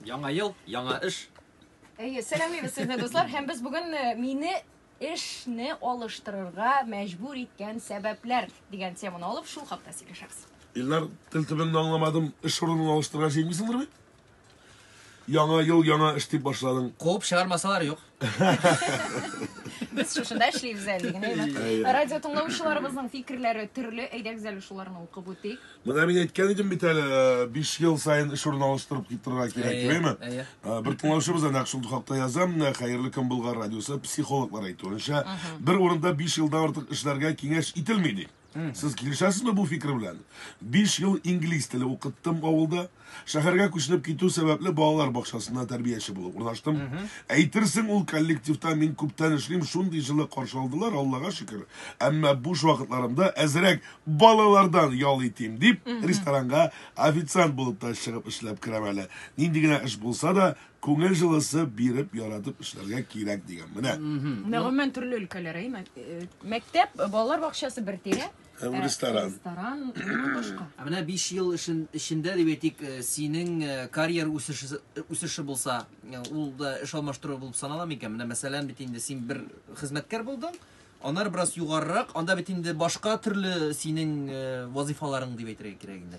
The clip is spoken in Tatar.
Яңа ел, яңа эш. Әйе, сәламлибез сезне, дуслар. Һәм без бүген э, мине эшне алыштырырга мәҗбүр иткән сәбәпләр дигән теманы алып шул хакта сөйләшәбез. Иллар тел төбеннән аңламадым, эш урынын алыштырырга җыенмыйсыңдыр бит? Яңа ел, яңа эш дип башладың. Куып чыгармасалар юк. Без шушында эшлибез әле генә. Радио тыңлаучыларыбызның фикерләре төрле. Әйдәгез әле шуларны укып үтик. Менә мин әйткән идем бит әле, 5 ел саен эш урын алыштырып китерергә кирәк, димәйме? Бер тыңлаучыбыз әнә шул хакта яза, менә Хәерле көн Болгар радиосы психологлар әйтүенчә, бер урында 5 елдан артык эшләргә киңәш ителми ди. Сез килешәсезме бу фикер белән? Биш ел инглиз теле укыттым авылда. Шәһәргә күченеп китү сәбәпле балалар бакчасында тәрбияче булып урнаштым. Әйтерсең, ул коллективта мин күптән эшлим, шундый җылы каршы алдылар, Аллага шөкер. Әмма буш вакытларымда әзрәк балалардан ял итим дип, ресторанга официант булып та чыгып эшләп керәм әле. Нинди генә эш булса да, Күңел җылысы биреп, яратып эшләргә кирәк дигән. Менә. Гомумән төрле өлкәләр, әй, мәк- э, мәктәп, балалар бакчасы бер тирә. Һәм Ә, ресторан. Ресторан, моннан башка. Ә менә 5 ел эшен, эчендә дип әйтик, э, синең э, карьер үсеше, үсеше булса, э, ул да эш алмаштыру булып санала микән? Менә мәсәлән бит инде син бер хезмәткәр булдың, аннары бераз югарырак, анда бит инде башка төрле синең э, вазыйфаларың дип әйтергә кирәк инде.